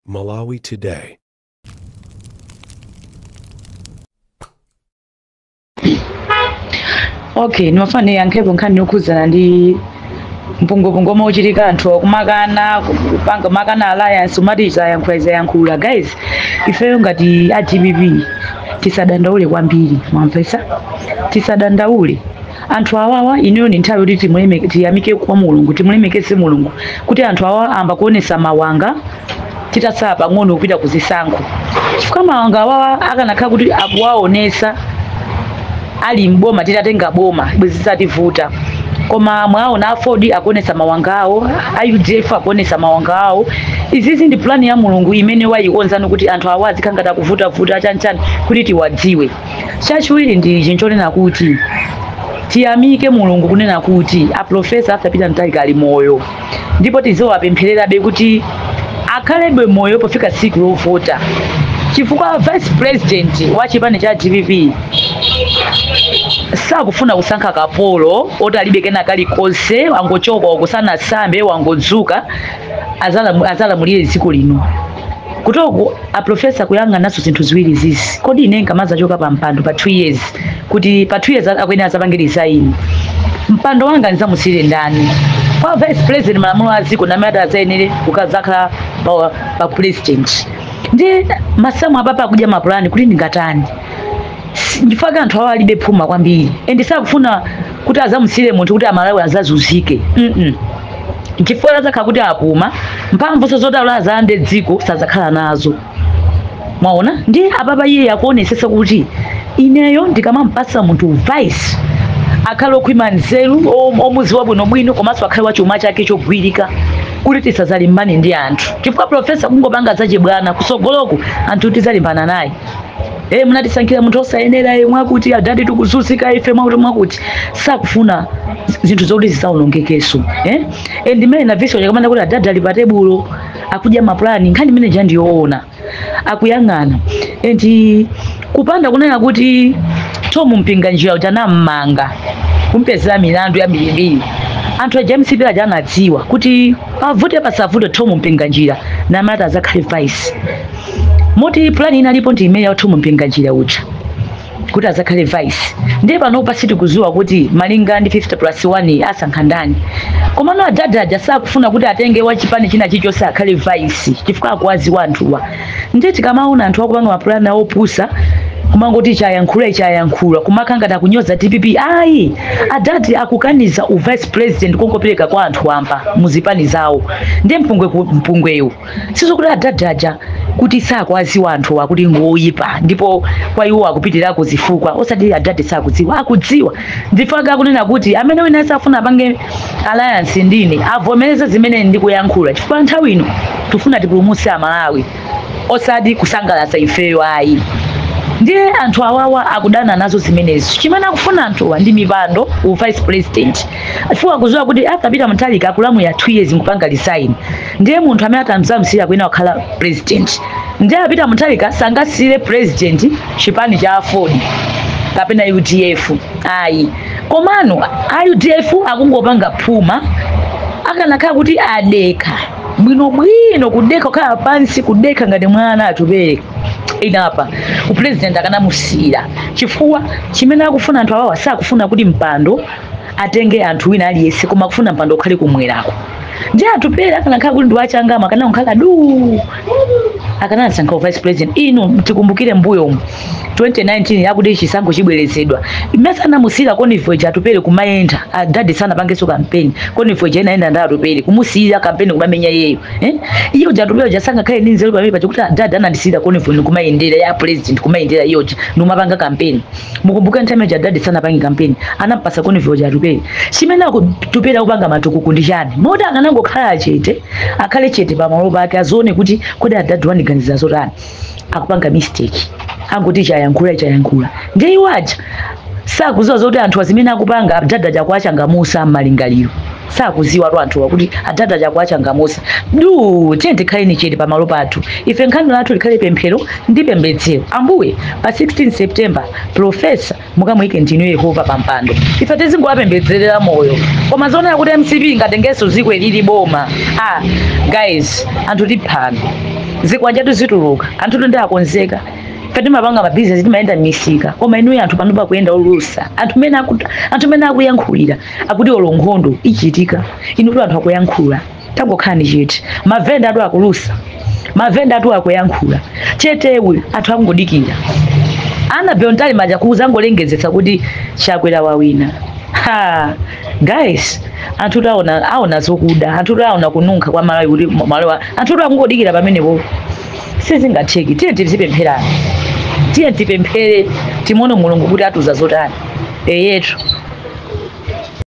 Malawi Today. okay ndimafuna ndiyankhepo nkhani yokhudzana ndi mpungopungo omwe ukuchitika anthu akumakana kupanga makana alliance umati ziyankhula ziyankhula guys ifeyo ngati a dpp tisadandaule kwambiri mwamvetsa tisadandaule anthu awawa ineyo ndi nthawi yoti timuleme- tiyamike kwa mulungu timulemekeze mulungu kuti anthu awa amba kuonesa mawanga titatsala pang'ono kupita ku zisankho chifukwa mawanga awawa akanakhala kuti akuwaonesa ali mboma titatenga boma bwezi zitativuta koma mwaona aford akuonesa mawanga awo a udf akuonesa mawanga awo izizi ndi pulani ya mulungu imene wayikonza kuti anthu awa azikhala ngati akuvutavuta chanchani kuti tiwadziwe Chachiwiri ndi ichi nchonena kuti tiyamike Mulungu kunena kuti a Professor Arthur Peter Mutharika ali moyo ndipo tiziwapemphererabe kuti akhalebe moyo pofika tsiku lovota chifukwa vice president wa chipani cha dpp sakufuna kusankha kapolo oti alibe kena kalikonse wangochoka kosasamba wangodzuka azalamulire dziko lino kutoko a professor kuyang'ananso zinthu ziwiri zizi kodi ine nkamadzachoka pa mpando pa 2 years kuti pa 2 years a- akuyenera adzapange resign mpando wanga ndidzamusiyire ndani kwa vice president malamulo a dziko amati adzayenere kukadzakhala pa, pa president ndi masamu apapa akudya mapulani kuti ndingatani Si- ndipaka anthu awo alibe phuma kwambiri and sakufuna kuti azamusiyire munthu kuti amalawi azazuzike mm -mm. chifukwa adzakhala kuti apuma mphamvunso zoti alazande dziko sadzakhala nazo mwaona ndi apapa iye akuonesesa kuti ineyo ndikamampasa munthu vice akhale okhwima nzeru om- omuziwa bwinobwino komanso akhale wachuma chake chogwirika kuti tisazalimbane ndi anthu chifukwa profesa kungopanga zachibwana kusogoloku anthu tizalimbana naye Eh, munatisankhira munthu osayenera eh, mwakuti adadi tikuzunzika ife mwakuti mwakuti sakufuna z- zinthu zoti zisaonongekeso eh? eh, ndimene na Vyson Chakamanda kuti adadi ali pa tebulo akudya mapulani nkhani imene ja ndiyoona akuyang'ana enti kupanda kunena kuti Thom Mpinganjira uja atammanga kumpezera milandu yambirimbiri anthu a james pira aja anadziwa kuti avute pasavute Thom Mpinganjira amati azakhale vice moti plan inalipo ndi imene ya Thom Mpinganjira uja kuti azakhale vice ndiye panopa sitikuziwa kuti malinga ndi 50 plus 1 asankha ndani komano adadi aja sakufuna kuti atenge wachipani china chichonse akhale vice chifukwa akuwaziwa anthuwa ndiye tikamaona anthu akupanga mapulani awo opusa kumangoti chayankhula chayankhula kumakangati akunyoza dpp ayi adadi akukaniza u vice president kongopereka kwa anthu wamba muzipani zawo ndiye mpungwe ku- mpungwewu sizokuti adadi aja kuti sakwaziwa anthu akuti ngoyipa ndipo kwa iwo akupitirira kuzifukwa osati adadi sakudziwa akudziwa ndi chifukwa akunena kuti amene wina azafuna apange alliance ndine avomereze zimene ndikuyankhula chifukwa nthawi ino tifuna tipulumutse amalawi osati kusangalatsa ifeyo ayi ndiye anthu awawa akudana nazo zimenezo chimene akufuna anthuwa ndi mipando u vice president chifukwa akuziwa kuti a Peter Mutharika akalamulira 2 years nkupanga resign ndiye munthu amene atamzamsira uja akhala president ndiye a Peter Mutharika sangasiyire president chipani cha aford kapena udf ayi komano a udf akungopanga phuma akanakhala kuti adekha bwinobwino kudekha kukhala pansi kudekha ngati mwana atupere panopa upresident akanamusiyira chifukwa chimene akufuna anthu awawa sakufuna kuti mpando atenge anthu wina aliyense koma akufuna mpando ukhale kumwerako ndiye atupere akanakhala kuti ndi wachangama akanangokhala duu akanasankha vice president inu tikumbukire mbuyomu 2019 yoti chisankho chibwerezedwa mmene anamusiyira convoy ija atupere kumayenda adadi sanapangenso kampeni convoy ija inayenda ndi atupere kumusiyira kampeni kumamenya iyeyo eh? iwo aja atupere aja sangakhale ndi nzeru pamene paja kuti adadi anandisiyira convoy ija kumayendera ya president kumayendera iyoja ndikumapanga kampeni mukumbuke nthawi imene ija adadi sanapange kampeni anampasa convoy ija atupere chimene atupere akupanga matukuku ndi chani moti akanangokhala chete akhale chete pamalo pake azione kuti kodi adadi andiganizira zotani akupanga mistake angoti chayankhula chayankhula ndiye iwo aja sakuziwa zoti anthuwa zimene akupanga adadi aja akuwachangamusa m'malingaliro sakuziwatu anthuwa kuti adadi aja akuwachangamusatu tiyeni tikhaleni chete pamalo pathu ife gawo lathu likhale pemphero ndi pembedzero ambuye pa 16 september profesa mukamuyike ndinu yehova pampando ife tizingowapembedzerera moyo koma zonena kuti mcp ingatengenso ziko ili boma ah guys anthu tiphana zikwanjatu zituluka anthutu ndi akonzeka ife timapanga mabizinesi timayenda m'misika koma inuyo anthu panopa akuyenda olusa anthu mene aku- anthu mene akuyankhulira akuti olo nkhondo ichitika inutu anthu akuyankhula tangokhalani chete mavendatu akulusa mavendatu akuyankhula cheteyu anthu akungodikira Annabel Mtalimanja kuzangolengezetsa kuti chakwera wawina ha guys anthutu aona aona zokuda anthutu aona kununkha kwa malawi kuti malawi anthutu akungodikira pamenepo sizingatheki tiye tizipempherani tiye tipemphere timuone mulungu kuti atiuza zotani eyetu